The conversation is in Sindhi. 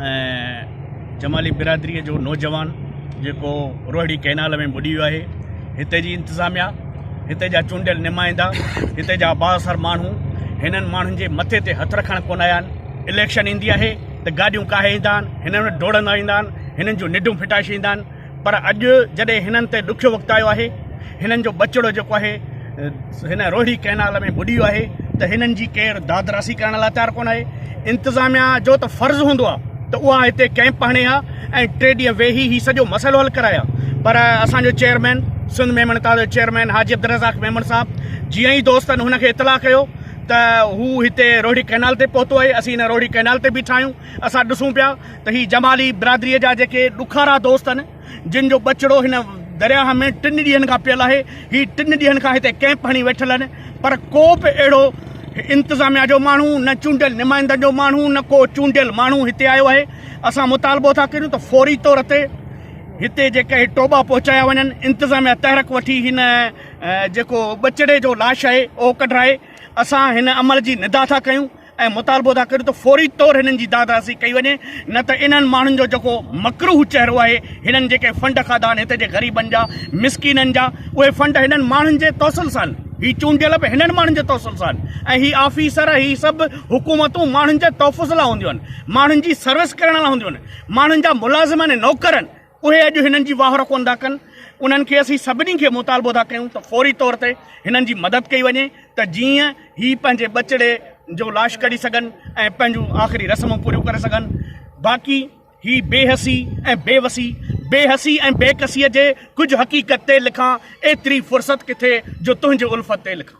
۽ جمالي برادري جو نوجوان جيڪو روهڙي ڪئنال ۾ ٻڏي ويو آهي هتي جي انتظاميا هتي جا چونڊيل نمائندا هتي جا بااثر ماڻهو هنن ماڻهن جي مٿي تي هٿ رکڻ ڪونه آيا آهن اليڪشن ايندي آهي ته گاڏيون ڪاهي ايندا آهن هنن وٽ ڊوڙندا ايندا آهن هنن جون نڊون ڦٽائي ڇڏيندا آهن پر اڄ جڏهن هنن تي ڏکيو وقت آيو آهي، هنن جو ٻچڙو جيڪو آهي هن روهڙي ڪئنال ۾ ٻڏي ويو آهي ته هنن جي ڪير دادراسي ڪرڻ لاء تيار ڪونه آهي. انتظاميا جو ته فرض هوندو آ ته اها هتي ڪئمپ هڻي ها ۽ ٽي ڏينهن ويهي هي سڄو مسئلو حل ڪرائي ها پر اسان جو چيئرمين سنڌ ميمڻ اتحاد جو چيئرمين حاجي عبدالرزاق ميمڻ صاحب جيئن ئي دوستن هن کي اطلاع ڪيو ته هو هتي روهڙي ڪئنال تي پهتو آهي اسين هن روهڙي ڪئنال تي بيٺا آهيون اسان ڏسون پيا ته هي جمالي برادريء جا جيڪي ڏکارا دوست آهن، جن جو ٻچڙو هن درياهه ۾ ٽن ڏينهن کان پيل آهي، هي ٽن ڏينهن کان هتي ڪئمپ هڻي ويٺل آهن، پر ڪو به اهڙو انتظاميا جو ماڻهو، نه چونڊيل نمائندن جو ماڻهو، نه ڪو چونڊيل ماڻهو هتي آيو آهي. اسان مطالبو ٿا ڪريون ته فوري طور تي هتي جيڪي هي ٽوٻا پهچايا وڃن، انتظاميا تحرڪ وٺي هن جيڪو ٻچڙي جو لاش آهي اهو ڪڍرائي، اسان هن عمل جي ندا ٿا ڪيون. ۽ مطالبو ٿا ڪريون ته فوري طور هنن جي داد راسي ڪئي وڃي نه ته انهن ماڻهن جو جيڪو مڪروهه چهرو آهي هنن جيڪي فنڊ کاڌا آهن هتي جي غريبن جا مسڪينن جا اهي فنڊ هنن ماڻهن جي توسل سان هي چونڊيل به هنن ماڻهن جي توسل سان ۽ هي آفيسر هي سڀ حڪومتون ماڻهن جي تحفظ لا هونديون آهن ماڻهن جي سروس ڪرڻ لا هونديون آهن ماڻهن جا ملازم آهن نوڪر آهن اهي اڄ هنن جي واهر ڪونه ٿا ڪن، انهن کي اسين سڀني کي مطالبو ٿا ڪيون ته فوري طور تي هنن جي مدد ڪئي وڃي ته جيئن هي پنهنجي ٻچڙي جو لاش ڪڍي سگهن ۽ پنهنجون آخري رسمون پوريون ڪري سگهن باقي هي بي حسي ۽ بي وسي بي حسي ۽ بي ڪسيء جي ڪجهه حقيقت تي لکان ايتري فرصت ڪٿي جو تنهنجي الفت تي لکان.